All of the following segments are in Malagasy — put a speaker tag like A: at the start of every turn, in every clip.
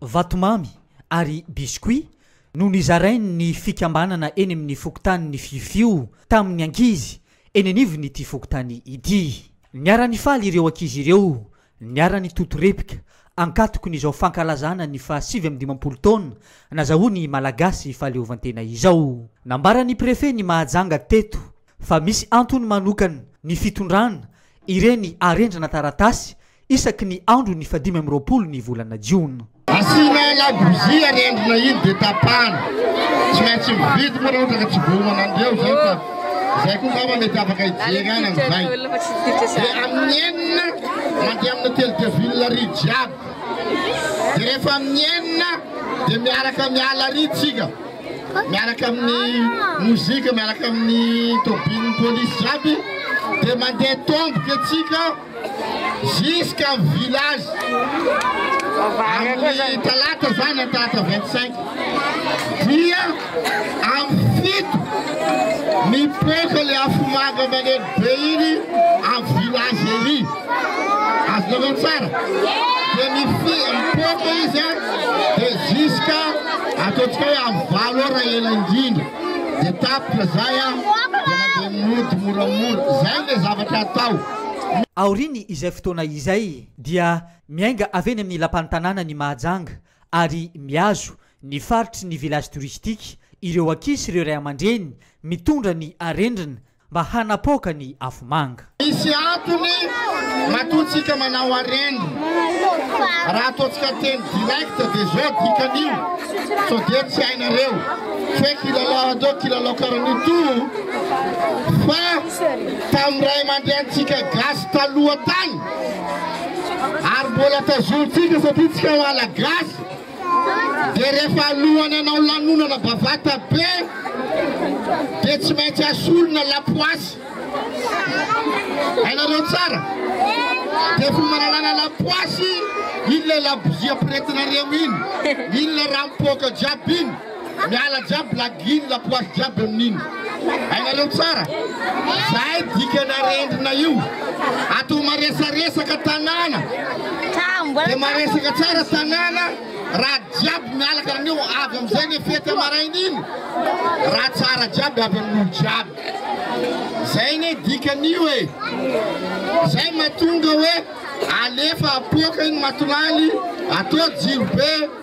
A: vatomamy ary biscuit no nizarain' ny fikambanana eny amin' ny fokontanin' ny Fiofio tamin' ny ankizy eny anivon' ity fokontany ity. Niara-nifaly ireo ankizy ireo niara-nitoto repika ankatokon' izao fankalazana ny faha sivy amby dimampolo taona nazahoan' i Malagasy fahaleovantena izao. Nambaran' ny Prefe ny Mahajanga teto fa misy antony manokan ny fitondran ireny arendrana taratasy isaky ny andro ny fahadimy amby roapolo ny volana jiona. Asiana
B: labozia arendrina iny dia tapahana. Tsy maintsy mividy moa raha ohatra ka tsy voaomana an'ireo izany fa izay koa angamba mety afaka hijery any amin'izay. Dia amin'ny enina mandeha amin'ny hotely de ville ary jiaby. Dia rehefa amin'ny enina dia miaraka miala ary tsika. miaraka amin'ny mozika, miaraka amin'ny tobin'ny polisy jiaby, dia mandeha tomboka antsika ziska village. Amin'ny talata zany an talata 25 dia amin'ny fito mipoaka le afomanga maneno Dia iny amin'ny village ery, azonareo tsara? Dia mipoaka izy an, dia jusqu'à ataontsika hoe amin'ny valo heures raha ela indrindra, dia tapitra izay an, dia mandeha mody moramora. Izay ilay zavatra atao. Aoriany
A: izay fotoana izay dia miainga avy eny amin'ny lapan'ny tanàna ny Mahajanga ary mihazo ny faritry ny village touristique ireo ankizy sy ireo ray aman-dreny mitondra ny arendrina Mba hanapoaka ny afomanga. Misy antony
B: matoa tsika manao areny. Raha ataontsika teny direct dia zao dikan'io sao dia tsy hainareo hoe kilalao atao kilalao karan'io toa fa tamin'ny ray aman-drenintsika gasy taloha tany ary mbola tazonintsika satria tsika malagasy Dia rehefa alohan'ny hanao lanonana bavata be dia tsy maintsy asorina lapoasy. Hainareo tsara? Dia fomba nanalana lapoasy, iny ilay labozia ampirehetinareo iny, iny ilay raha mipoaka jiaby iny. Miala jiaby blague iny lapoasy jiaby amin'iny. Hainareo tsara? Zay dikan'arendrina io. Atao maresaresaka tanàna. Dia maresaka tsara tanàna raha jiaby miala karan'io. Avy amin'izay ilay fety amaraina iny. Raha tsara jiaby avy amin'olo jiaby. Zay anie dikan'io e. Zay mahatonga hoe alefa apoaka iny matolaly atao jirobe.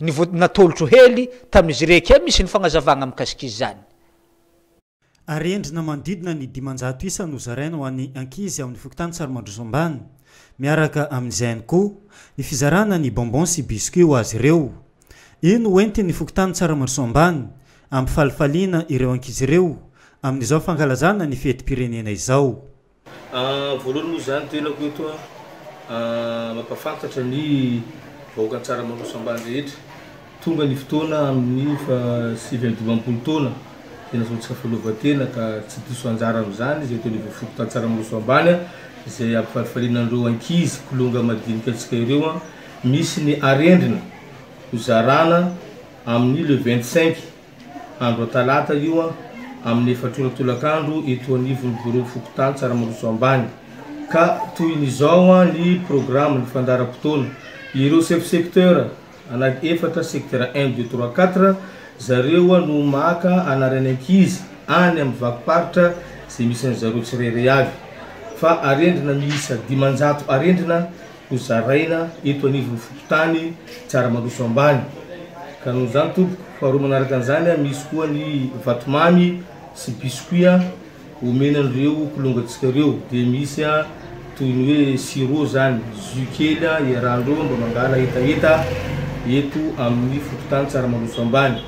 A: Ny vody natolotro hely tamin'izy rehekia misy ny fagnazavagna mikasika izany.
C: Arendrina manodidina ny dimanjato isa no zaraina ho an'ny ankizy ao amin'ny fokontany Tsarimandroso Ambany. Miaraka amin'izay ihany koa ny fizarana ny bonbons sy biscuits ho azy ireo. Io no hoentin'ny fokontany Tsaramandroso Ambany ampifalifaliana ireo ankizy ireo amin'izao fankalazana ny fetim-pirenena izao.
D: Voalohany moa izany tenako eto mampahafantatra ny vahoaka Antsaramarosa ambany rehetra, tonga ny fotoana amin'ny fahasivy amby dimampolo taona dia nasaon'i Tsiafaleovatena ka tsy diso anjara amin'izany izy eto anivon'ny fokontan'Antsaramaroso ambany izay ampifalifaliana an'ireo ankizy kilonga madinika antsika ireo misy ny arendrina hozarana amin'ny le vingt cinq Andro talata io amin'ny efatra ora tolakandro eto anivon'ny biraon'ny fokontany Tsaramarosoa Ambany. Ka toy ny izao ny programme, ny fandaharam-potoana. Ireo chef secteur anaky efatra, secteur un, deux, trois, quatre, zareo no maka anaran'ny ankizy any amin'ny vakim-paritra izay misy an'izareo tsirairay avy. Fa arendrina miisa dimanjato arendrina Ho zaraina eto anivon'ny fokontany Tsaramaroso ambany ka noho izany tompoko. Faharoa manaraka an'izany misy koa ny vatomamy sy biscuits omena an'ireo kilongantsika ireo dia misy toy ny hoe sirop izany, jus kely iarahan'ireo mba mangala hetaheta eto amin'ny fokontany Tsaramaroso ambany.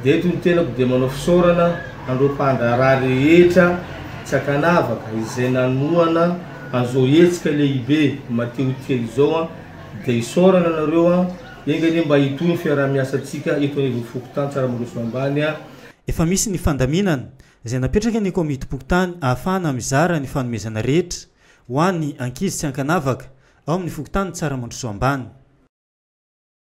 D: Dia eto ny tenako dia manao fisaorana an'ireo mpandraharaha rehetra tsy ankanavaka izay nanohana. Azao hetsika lehibe Mateo kely izao an, dia isaorana anareo an, enga anie mba hitohy ny fiaraha-miasantsika eto anivon'ny fokontany Tsaramaroso Ambany an. Efa misy ny
C: fandaminana izay napetraka ny Komitim-pokontany ahafahana mizara ny fanomezana rehetra ho an'ny ankizy tsy ankanavaka ao amin'ny fokontany Tsaramandroso Ambany.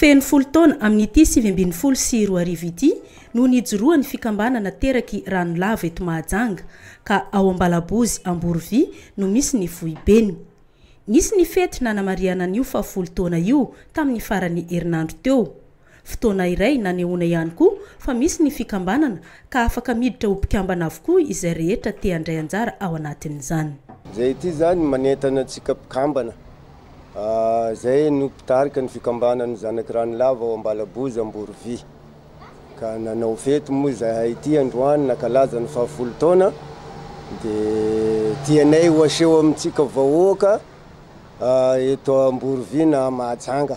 A: Feno
E: folo taona amin'ity sivy ambin'ny folo sy roa arivo ity no nijoroan'ny fikambanana Teraky Ranolava eto Mahajanga, ka ao Ambalabozy Amborovy no misy ny foibeny. Nisy ny fety nanamarihana an'io fahafolo taona io tamin'ny faran'ny herinandro teo. Fotoana iray nanehoana ihany koa fa misy ny fikambanana ka afaka miditra ho mpikambana avokoa izay rehetra te-handray anjara ao anatin'izany. Izay ity izany
F: manentana antsika mpikambana Izay no mpitarika ny fikambanan'ny Zanaky Ranolava ao Ambalaboza, Amborovi, ka nanao fety moa izahay ity androany nankalaza ny fahafolo taona dia tianay ho aseho amintsika vahoaka eto Amborovi na Mahajanga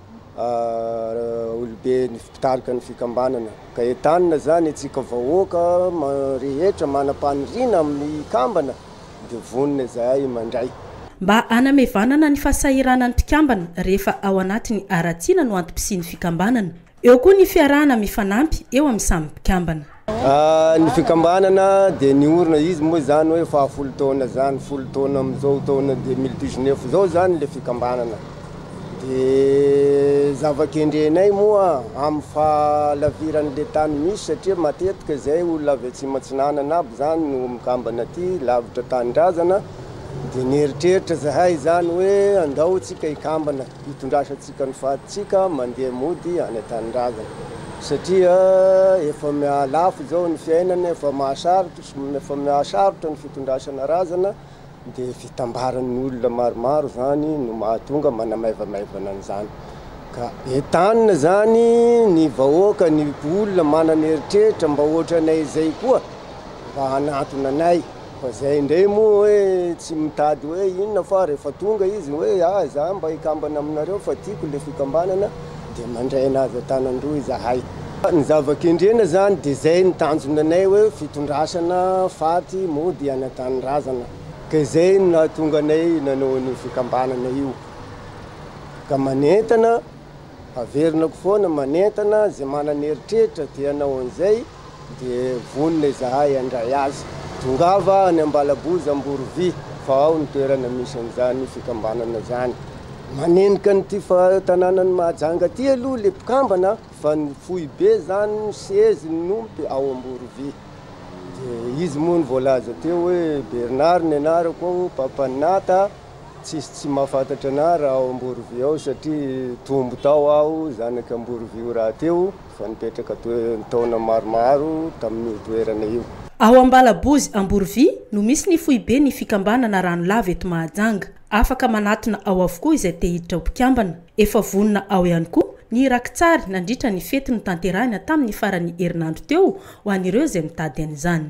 F: olobe ny mpitarika ny fikambanana ka entanina zany antsika vahoaka rehetra manam-paniriana amin'ny kambana dia vonona izahay mandray. Mba
E: hanamevanana ny fahasahiranan'ny mpikambana rehefa ao anatiny haratsiana no antom-pisian'ny fikambanana. Eo koa ny fiarahana mifanampy eo amin'ny samy mpikambana. Ny
F: fikambanana dia niorina izy moa izany hoe fahafolo taona izany, folo taona amin'izao taona deux mille dix neuf izao izany ilay fikambanana. Dia zava-kendrenay moa amin'ny fahalaviran'ilay tany misy satria matetika izay olona avy atsimo atsinanana aby izany no mikambana aty lavitra tanindrazana, dia nieritreritra izahay izany hoe andao isika hikambana. Hitondrasantsika ny fatintsika mandeha mody any an-tanindrazana satria efa miha-lafo izao ny fiainana, efa mahasarotra, efa miha-sarotra ny fitondrasana razana dia fitambaran'ny olona maromaro izany no mahatonga manamaivamaivana an'izany. Ka entanina izany ny vahoaka, ny olona manana eritreritra mba ohatranay izay koa mba hanantona anay. Fa zay ndray moa hoe tsy mitady hoe inona fa rehefa tonga izy hoe ah za mba hikambana aminareo fa tiako le fikambanana de mandray anazy an-tanan-droa izahay. Ny zava-kendrena zany de zay ny tanjona anay hoe fitondrasana faty mody hanatanindrazana ka izay no nahatonga anay nanao an'io fikambanana io ka manentana averina ko foana manentana ze manana eritreritra te hanao an'izay Dia vonona izahay handray azy. Tongava any Ambalaboza Amborovy fa ao ny toerana misy an'izany fikambanana izany. Manenika an'ity tanànan'i Mahajanga ity aloha ilay mpikambana fa ny foibe izany no sezy ny nompe ao Amborovy. Dia izy moa no voalaza teo hoe Bernard ny anarako ao, Papa Nata, tsisy tsy mahafantatra anah raha ao Amborovy ao satria tombo tao aho, zanak'i Amborovio rahateo. Efa nipetraka taona maromaro tamin'io toerana io. Ao Ambalabozy
E: Amborovy no misy ny foibe ny fikambanana Ranolava eto Mahajanga. Afaka manatona ao avokoa izay te hiditra ho mpikambana. Efa vonona ao ihany koa ny raki-tsary nandritra ny fety notanterahina tamin'ny faran'ny herinandro teo ho an'ireo izay mitady an'izany.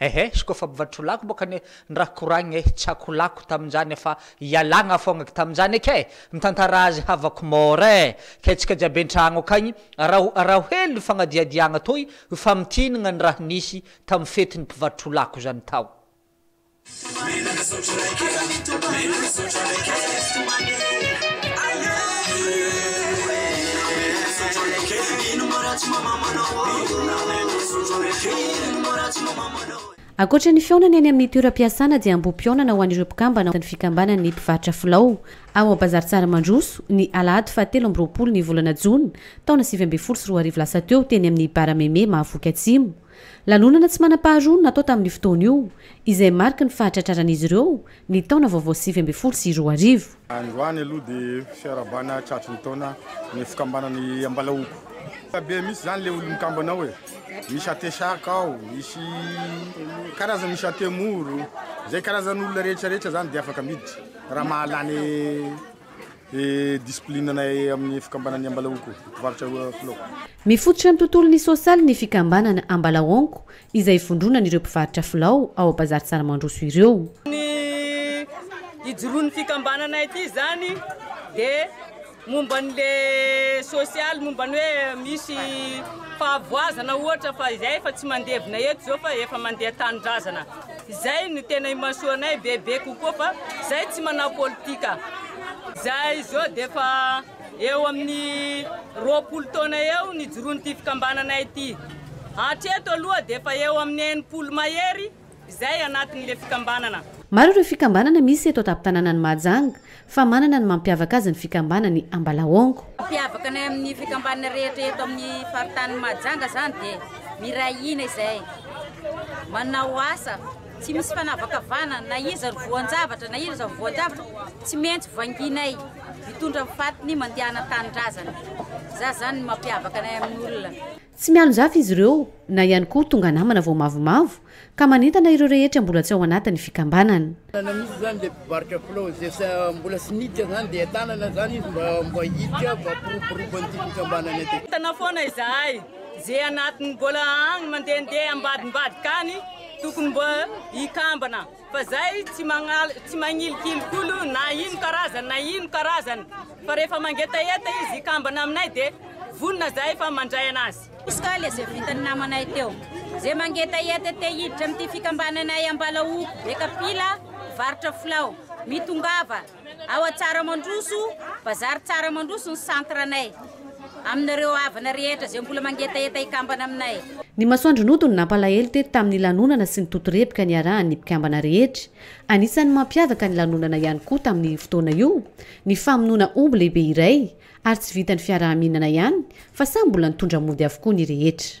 A: Ehe sy koa fa mivarotra lako boka anie ny raha koragny eh, tsy ako lako tamin'izany fa ialagna fogna ky tamin'izany eky eh, mitantara azy havako mora eh, kay tsika jiaby an-tragno akagny araho araho hely ny fagnadihadiagna toy famintinagna ny raha nisy tamin'ny fetin'ny mpivarotro lako zany tao.
G: Ankoatra ny fihaonana eny amin'ny toeram-piasana dia ambohi-pihaonana ho an'ireo mpikambana ao ny fikambanan'ny mpivarotra filao ao Bazary Tsaramandroso ny alahady faha telo amby roapolo ny volana jona taona sivy ambin'ny folo sy roa arivo lasa teo teny amin'ny Barameme Mahavoky Atsimo. Lanonana tsy manam-paharoa no natao tamin'io fotoana io, izay mariky ny fahatratraran'izy ireo ny taona vaovao sivy ambin'ny folo sy roa arivo. Androany aloha
H: dia fiarahabana tratry ny taona ny fikambanan'i Ambalaoko. Be mihitsy izany ilay olon'ny kambana ao e! Misy atesaka ao, misy karazana, misy atemoro, izay karazan'olona rehetra rehetra izany dia afaka miditra raha mahalany. Mifototra amin'ny
G: tontolon'ny sosialy ny fikambanana Ambalaonko izay ivondronan'ireo mpivarotra filao ao Bazary Tsaramandroso ireo. Ny
I: ijoroan'ny fikambanana ity izany dia momba an'le sosialy, momba ny hoe misy fahavoazana ohatra fa izay efa tsy mandevina eto izao fa efa mandeha tanindrazana. Izay no tena imasoanay bebe kokoa fa izahay tsy manao politika. Izahay izao dia efa eo amin'ny roapolo taona eo nijoroan'ity fikambanana ity. Hatreto aloha dia efa eo amin'ny enimpolo mahery izahay anatin'ilay fikambanana. Maro ireo fikambanana
G: misy eto an-tampon-tanànan'i Mahajanga. Fa manana ny mampiavaka azy ny fikambanan'i Ambalaongo. Mampiavaka anay amin'ny
J: fikambanana rehetra eto amin'ny faritanin'i Mahajanga izany dia miray hina izahay, manao asa, tsy misy fanavakavahana na iza no voan-javatra na iza no voan-javatra, tsy maintsy vanginay, mitondra ny fatiny mandehana an-tanindrazana. Izay izany no mampiavaka anay amin'ny olona. Tsy mialonjafy
G: izy ireo, na ihany koa tonga namana vao mavomavo, ka manentana ireo rehetra mbola tsy ao anatin'ny fikambanana. Tanana misy izany ilay
K: mpivarotra filao, izay sa mbola tsy niditra izany dia tanana izany izy mba mba
I: hiditra
K: mba hampiroborobo an'ity fikambanana ity. Mitana foana
I: izahay,
K: ze
I: anatiny mbola agny mandehandeha ambadimbadika agny tokony mba hikambana. Fa zay tsy magnala tsy magnilikily koa lo na ino karazany na ino karazany fa rehefa mangetaheta izy hikambana aminay de vonona zahay fa mandray anazy. Izy ka le ze vitan'ny
J: namanay teo ze mangetaheta te hiditra amty fikambananay ambala oko be kapila mivarotra filao mitongava. Ao Antsaramandroso, Bazary Tsaramandroso ny centre-nay. Aminareo havana rehetra izay mbola mangetaheta hikambana aminay. Ny masoandro nodo
G: no nampalahelo teto tamin'ny lanonana sy ny totorepoka niarahan'ny mpikambana rehetra. Anisan'ny mampiavaka ny lanonana ihany koa tamin'io fotoana io ny famonoana omby lehibe iray ary tsy vitan'ny fiaraha-mihinana ihany fa samy mbola nitondra mody avokoa ny rehetra.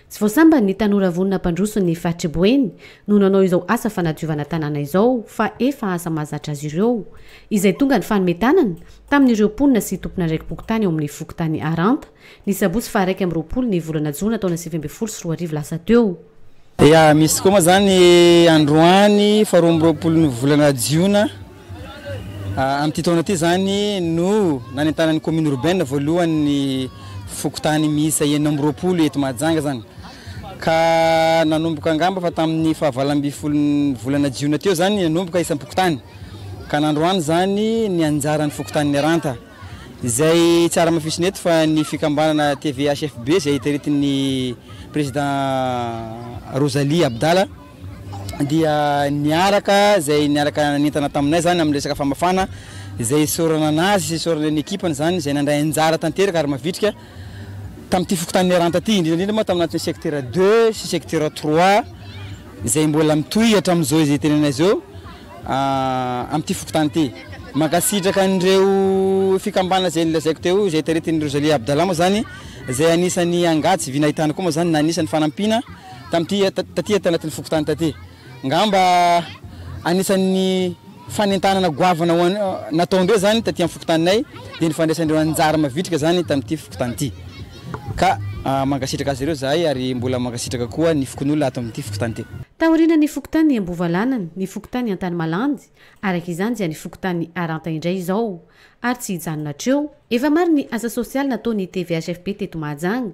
G: Tsy vao sambany ny tanora vonona hampandroso ny faritry Boeny no nanao izao asa fanadiovana tanàna izao fa efa asa mahazatra azy ireo izay tonga ny fanome tanana tamin'ireo mponina sy tompon'andraiki-pokontany ao amin'ny fokontany Aranta ny sabotsy faha iraika amby roapolo ny volana jona taona sivy ambin'ny folo sy roa arivo lasa teo. Ya, misy
L: tokoa moa izany androany faha roa amby roapolo ny volana jiona. Amin'ity taona ity izany no nanentanan'ny commune urbaine voalohany ny fokontany miisa enina amby roapolo eto Mahajanga izany. Ka nanomboka angamba fa tamin'ny fahavalo ambin'ny folon'ny volana jiona teo izany nanomboka isam-pokontany. Ka nandroany izany ny anjaran'ny fokontanin'i Ranta. Izay tsy ara-mafisina eto fa ny fikambanana TVHFB izay taritin'ny président Rosalie Abdala. dia niaraka izay niaraka nanentana taminay izany amin'ny resaka famafana izay isaorana anazy sy isaorana ny ekipany izany izay nandray anjara tanteraka ary mavitrika tamin'ity fokontany Miaranta ity indrindra indrindra moa tamin'ny anatin'ny secteur 2 sy secteur 3 izay mbola mitohy hatramin'izao izay tenenay izao ah, amin'ity fokontany ity mankasitraka an'ireo fikambana izay nilazaiko teo izay taritin'i Rosalie Abdallah moa izany izay anisan'ny angady sy vinahitany koa moa izany na anisan'ny fanampiana Tamin'ity taty tanatin'ny fokontany taty. Angamba anisan'ny fanentanana goavana ho an'i natao indray izany taty amin'ny fokontaninay dia ny fandraisan'ireo anjara mavitrika izany tamin'ity fokontany ity. Ka mankasitraka azy ireo izahay ary mbola mankasitraka koa ny fokonolona ato amin'ity fokontany ity. Taoriana ny fokontany
G: Ambovalanany, ny fokontany Antanimalandy, araka izany dia ny fokontany Aranta indray izao. Ary tsy hijanona hatreo. Efa maro ny asa sosialy nataon'ny TVHFP teto Mahajanga.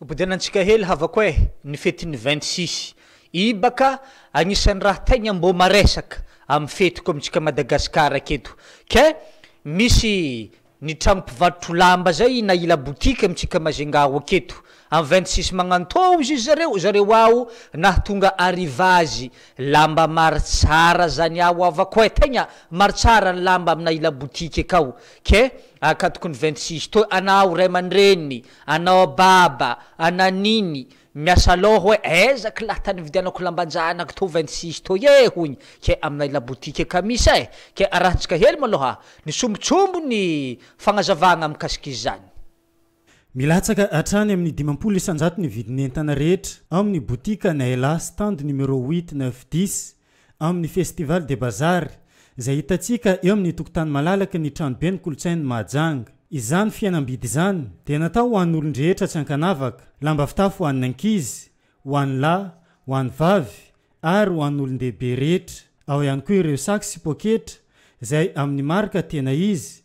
A: Bodena antsika hely havako eh! Ny fetin'ny vingt six ibaka agnisan'ny raha tegna mbô maresaka amin'ny fetiko amintsika Madagascar aketo ke misy ny tragno mpivadrotro lamba zay na ila boutique amintsika Majunga ao aketo amin'ny vingt six magnantôzy izy zareo zareo ao nahatonga arrivage lamba maro tsara zany ao havako eh! Tegna maro tsara ny lamba amina ila boutique akao ke Akatoky ny vingt six to anao ray aman-dreniny, anao baba, ana nini, miasa loha hoe aiza ko lahy tany ividianako lamban-janako to vingt six to e hoiny ke aminay labotika kamis e! ke arahintsika hely maloha ny sombintsombiny fagnazavagna mikasika izany. Milatsaka
C: hatrany amin'ny dimampolo isanjato ny vidin'entana rehetra ao amin'ny botika Naila stand numéro huit, neuf, dix amin'ny Festival des Bazars izay hitantsika eo amin'ny tokontany malalaky ny Tranoben'ny Kolontsain'i Mahajanga. Izany fihenam-bidy izany dia natao ho an'olon-drehetra tsy ankanavaka, lamba fitafy ho an'ny ankizy, ho an'ny lahy, ho an'ny vavy ary ho an'olon-dehibe rehetra. Ao ihany koa ireo sac sy poketra izay amin'ny marika tena izy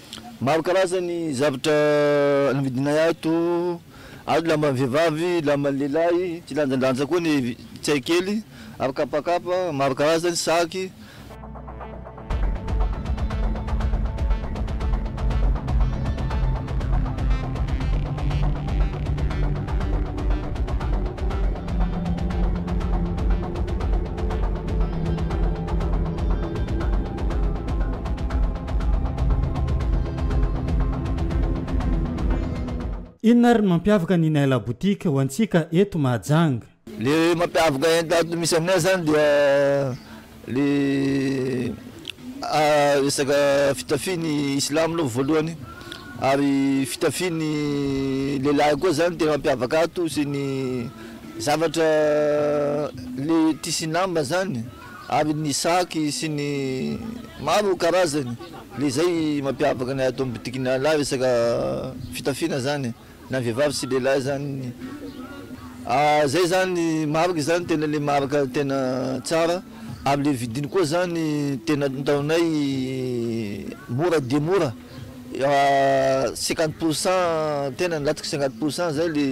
M: Maro karazany ny zavatra novidinay ato, ary lamban'ny vehivavy, lamban'ny lehilahy, kilanjalanja koa ny tsay kely, ary kapakapa maro karazany, saky.
C: Inona ary ny mampiavaka ny Naila Boutique ho antsika eto Mahajanga? Le mampiavaka
M: enta ato misy aminay zany dia le resaka fitafian'ny silamo aloha voalohany ary fitafian'ny lehilahy koa zany tena mampiavaka ato sy ny zavatra le tissu lamba zany. Ary ny saky sy ny maro karazany, le zay mampiavaka ny ato boutique-ny an'lah resaka fitafiana zany na vehivavy sy lehilahy zany ah zay zany marika zany tena le marika tena tsara ary le vidiny koa zany tena ataonay mora dia mora cinquante pour cent tena nilatsaka cinquante pour cent zay le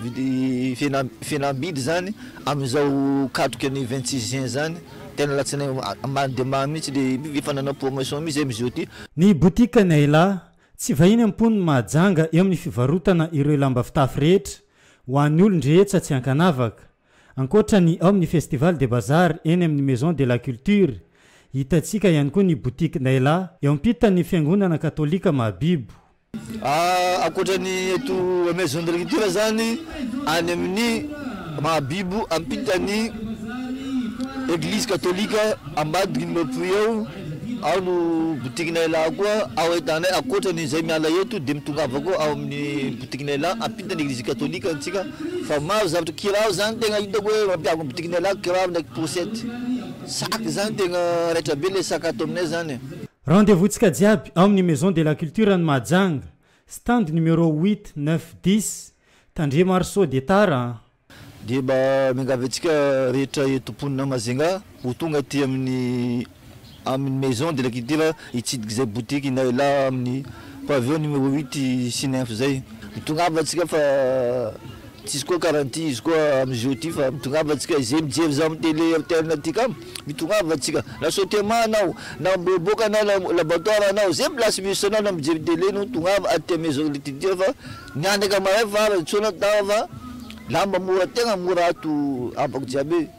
M: vidi- fihenam-bidy zany. Amin'izao katroka ny vingt six juin izany, tena alatsinainy mamy dia mamy mihitsy le efa nanao promotion mihitsy zay Mijou ty. Ny botikan'i
C: Ayla, tsy vahiny am-pony Mahajanga eo amin'ny fivarotana ireo lamba fitafy rehetra ho an'ny olon-drehetsa tsy ankanavaka. Ankoatra ny ao amin'ny Festival des Bazars eny amin'ny Maison de la Culture, hitantsika ihany koa ny botikin'i Ayla eo ampitan'ny Fiangonana Katolika Mahabibo.
M: Ankoatra ny eto amin'ny Maison de l'agriculture izany, any amin'ny Mahabibo ampitan'ny Eglizy Katolika ambadiky ny Mapuy eo, ao no boutiquenay lahy koa, ao ahitanay ankoatra ny izay miala eto dia mitongava koa ao amin'ny boutiquenay lahy ampitan'ny Eglizy Katolika antsika fa maro zavatra, kiraro izany tena hitako hoe mampiavaka ny boutiquenay lahy, kiraro ndraiky pôsety, sac izany tena raitra be ilay sac ato aminay izany e! Rendez-vous tsika
C: jiaby ao amin'ny Maison de la Culture any Mahajanga, stand numéro huit, neuf, dix, tandremo ary sao dia tara an! Dia mba
M: miangavy antsika rehetra eto mponina Majunga ho tonga aty amin'ny amin'ny Maison de la Culture hitsidika izay boutique Inay Lahy amin'ny pavillon numéro huit sy neuf izay. Mitongava tsika fa Tsisy koa garantie izy koa amizio ty fa mitongava tsika izay mijery zah am tele rtl ty ka mitongava tsika na saute mah anao na miboaboaka na laboratoire anao zay place misy anao na mijery tele no tongava aty am maison de culture fa mianaka mahay fa aza tsy ho anao tava fa lamba mora tegna mora ato abako jiaby e.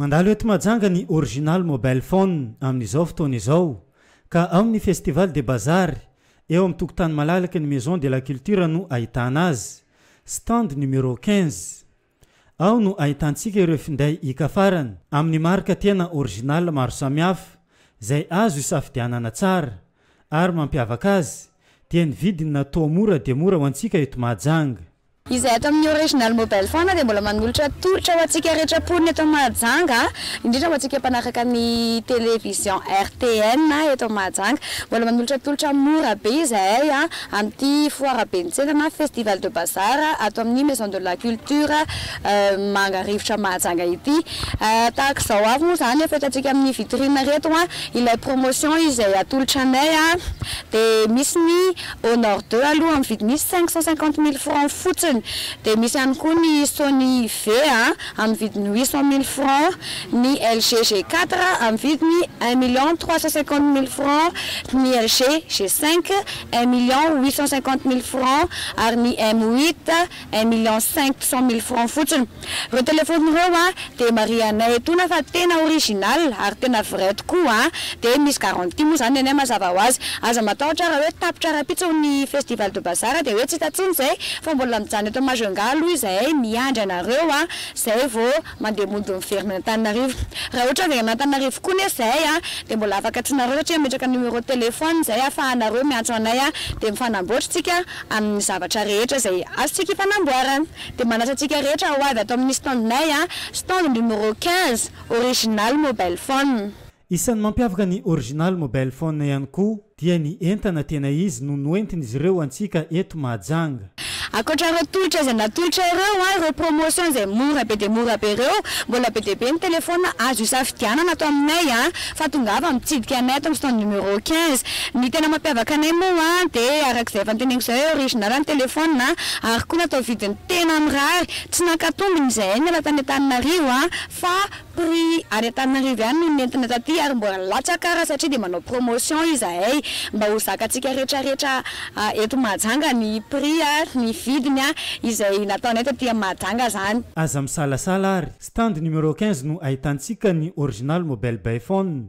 C: Mandalo eto Mahajanga ny Original Mobile Phone amin'izao fotoana izao ka ao amin'ny Festival des Bazars eo amin'ny tokontany malalaky ny Maison de la Culture no ahitana azy. Stand numéro quinze. Ao no ahitantsika ireo finday hikafarany amin'ny marika tena original maro samihafa izay azo hisafidianana tsara ary mampiavaka azy dia ny vidiny natoa mora dia mora ho antsika eto Mahajanga. Izay ato amin'ny
N: Original Mobile Phone dia mbola manolotra tolotra ho antsika rehetra mponina eto Mahajanga, indrindra ho antsika mpanaraka ny Télévision RTN eto Mahajanga. Mbola manolotra tolotra mora be izahay. Amin'ity foara ben'ny tsena na Festival de Bazar ato amin'ny Maison de la Culture Manga Rivotra Mahajanga ity. Tahaka izao avy moa izany efa hitantsika amin'ny vitrine ireto ilay promotion izay atolotra anay dia misy ny Honor deux aloha amin'ny vidiny cinq cent cinquante mille francs fotsiny dia misy ihany koa ny Sony V amin'ny vidiny huit cent mille francs, ny LG G quatre amin'ny vidiny un million trois cent cinquante mille francs, ny LG G cinq un million huit cent cinquante mille francs, ary ny M huit, un million cinq cent mille francs fotsiny. Ireo telefaonina ireo an, dia marihanay etoana fa tena original ary tena vrai tokoa an! dia misy garantie moa izany nenay mazava ho azy. Aza matahotra raha hoe tapitra rahampitso ny festival de bazar dia hoe tsy hita intsony izay, fa mbola mijanona eto Majunga aloha izahay miandry anareo an! izay vao Mandeha mody miverina any Antananarivo. Raha ohatra avy any Antananarivo koa nefa izay a, dia mbola afaka antsoinareo satria ametraka numéro téléphone izay ahafahanareo miantso anay a, dia mifanamboatra isika amin'ny zavatra rehetra izay azontsika ifanamboarana. Dia manasa antsika rehetra ho avy ato amin'ny stand-nay a, stand numéro quinze, original mobile phone. Isan'ny mampiavaka
C: ny Original Mobile Phone ihany koa dia ny entana tena izy no noentin'izy ireo antsika eto Mahajanga. Ankoatra ireo
N: tolotra izay natolotra ireo, ireo promotion izay mora be dia mora be ireo, mbola be dia be ny telephone azo isafidianana ato aminay fa tongava mitsidika anay ato amin'ny stand numéro quinze. Ny tena mampiavaka anay moa dia araka izay efa noteneniko izay hoe original ny telephone ary koa natao vidiny tena mirary, tsy nankato mbiny izahay niala tany Antananarivo fa Prix any Antananarivo ihany no nentina taty ary mbola latsaka ara satria dia manao promotion izahay mba ho zakantsika rehetra rehetra eto Mahajanga ny prix ary ny vidiny izay nataonay taty am Mahajanga zany. Aza misalasala
C: ary. Stand numéro quinze no ahitantsika ny original mobile bay phone.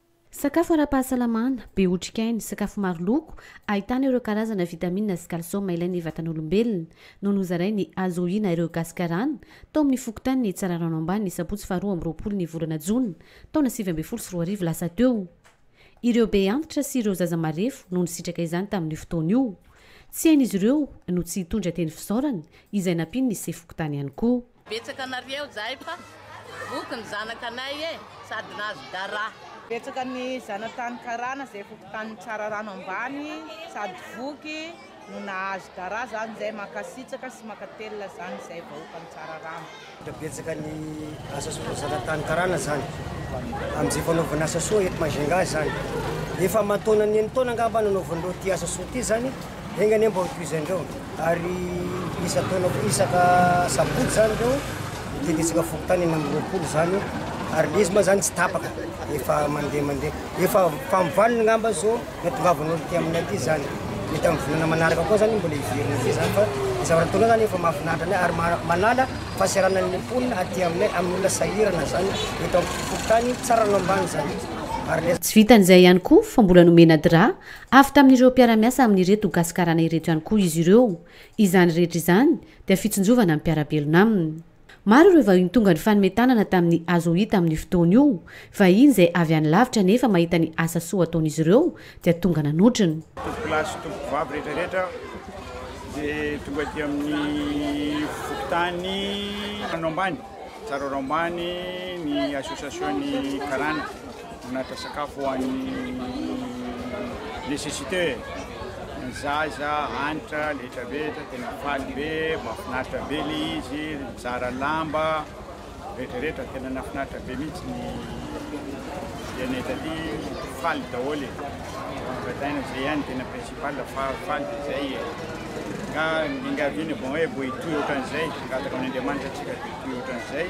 A: Sakafo
G: ara-pahasalamana, be otrikaina, sakafo maro loko, ahitana ireo karazana vitamina sy kalsioma ilain'ny vatan'olombelona, no nozarainy azo ohiana ireo Gasikarana, tao amin'ny fokontanin'i Tsararano Ambany ny sabotsy faharoa amby roapolo ny volana jona, taona sivy ambin'ny folo sy roa arivo lasa teo. Ireo be antitra sy ireo zaza marefo no nisitraka izany tamin'io fotoana io. Tsy hain'izy ireo no tsy hitondra teny fisaorana, izay nampian'ny sefo fokontany ihany koa. Betsaka nareo
O: zay fa voky ny zanaka anay e sady nahazo dara. Betsaka ny
P: zanatany karana zay voky tany tsararano ambany sady voky no nahazo dara zany zay makasitsaka sy makatelina zany zay vahoka ny tsararano. Tena betsaka ny
Q: asa soa zanatany karana zany amizay fanaovana asa soa eto majunga zany efa aman taonany enin taona angamba nanaovanareo ty asa soa ty zany. Enga anie mba ho tohizan'ireo ary isan-taona koa isaka sabotsy izany ireo dia ditsaka fokontany enina amby roapolo izany ary ilay izy moa izany tsy tapaka efa mandeha mandeha efa famovaliny ngamba izao na tongavan'olo ty aminay aty izany mety amin'ny volana manaraka koa izany mbola hiverina be izany fa zava-nataonao izany efa mahafinaritra anay ary manala fahaserana ny mponina aty aminay amin'ny olona sahirana izany eto amin'ny fokontany Tsaranombanizany ary Tsy
G: vitan'izay ihany koa fa mbola nomena drap Avy tamin'ireo mpiara-miasa amin'ireto Gasikarana ireto ihany koa izy ireo. Izany rehetra izany dia fitsinjovana ny mpiara-belona aminy. Maro ireo vahiny tonga nifanome tanana tamin'ny Azo hita amin'io fotoana io, vahiny izay avy any lavitra nefa mahita ny asa soa ataon'izy ireo dia tonga nanotrona. Tompokolahy sy
R: tompokovavy rehetra rehetra dia tonga aty amin'ny fokontany Rano Ambany, Tsaraorambany, ny Association-n'ny Karana. Manaritra sakafo ho an'ny necessiteux e! Ny zaza, hanitra, letra be, tena faly be, mahafinaritra be le izy, mizara lamba, rehetra rehetra, tena nahafinaritra be mihitsy ny mpianay taty, faly daholo e! Ambadaina zay ihany tena principal fa faly de zay e! Ka ny enga vy ny bon hoe bohitoy ohatran'izay, hangataka amin'Andriamanitra antsika bohitoy ohatran'izay.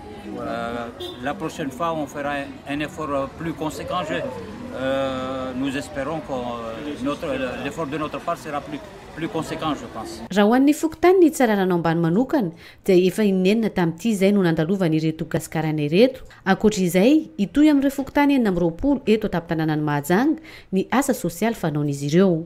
S: La prochaine fois on fera un effort plus consequent je nous esperons que notre l'effort de notre part sera plus plus consequent je pense. Raha ho an'ny fokontany ny
G: Tsararano ambany manokana dia efa inenina tamin'ity izay no nandalovany ireto Gasikaraina ireto. Ankoatra izay, hitohy amin'ireo fokontany enina amby roapolo eto an-tampon-tanànan'i Mahajanga ny asa sosialy fanaon'izy ireo.